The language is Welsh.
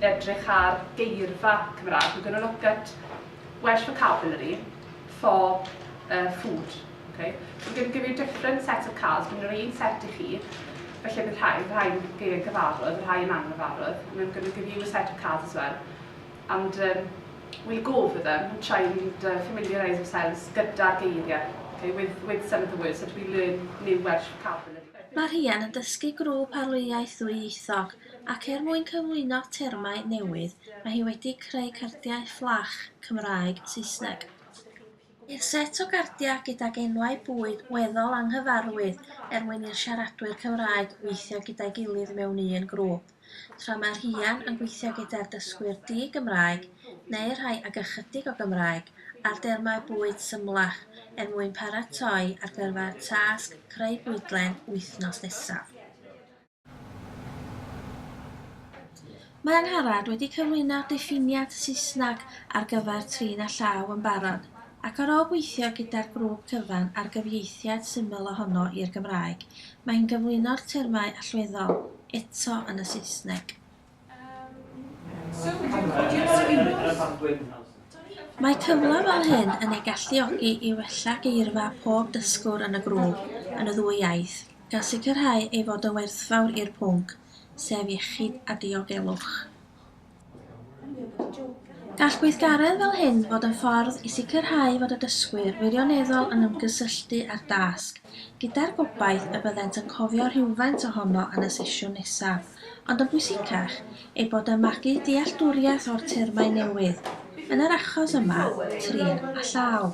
edrych ar geirfa Cymraeg. We're going to look at Welsh vocabulary for uh, food. Okay? We're going to give you different sets of cards. Dwi'n rhaid un set i chi. Felly bydd rhai, rhai geiriau cyfarwydd, rhai yn anghyfarwydd. And I'm going to give you a set of cards as well. And um, we'll go over them and try and uh, familiarise ourselves gyda'r geiriau, okay, with, with some of the words that we learn new Welsh vocabulary. Mae Rhian yn dysgu grŵp arlwyaeth ddwyieithog ac er mwyn cyflwyno termau newydd mae hi wedi creu cardiau fflach Cymraeg, Saesneg. I'r set o gardiau gydag enwau bwyd weddol anghyfarwydd er mwyn i'r siaradwyr Cymraeg weithio gyda'i gilydd mewn un grŵp. tra mae rhian yn gweithio gyda'r dysgwyr di-Gymraeg neu'r rhai ag ychydig o Gymraeg ar dermau bwyd symlach er mwyn paratoi ar gyfer tasg creu bwydlen wythnos nesaf. Mae Angharad wedi cyflwyno diffiniad Saesneg ar gyfer trin a llaw yn barod, ac ar ôl gweithio gyda'r grŵp cyfan ar gyfieithiad syml ohono i'r Gymraeg, mae hi'n gyflwyno'r termau allweddol. eto yn y Saesneg. Mae cyfle fel hyn yn ei galluogi i wella geirfa pob dysgwr yn y grŵp yn y ddwy iaith, gan sicrhau ei fod yn werthfawr i'r pwnc, sef iechyd a diogelwch. Gall gweithgaredd fel hyn fod yn ffordd i sicrhau fod y dysgwyr wirioneddol yn ymgysylltu â'r dasg, gyda'r gobaith y byddent yn cofio rhywfaint ohono yn y sesiwn nesaf, ond yn bwysicach, eu bod yn magu dealltwriaeth o'r termau newydd, yn yr achos yma, trin a llaw.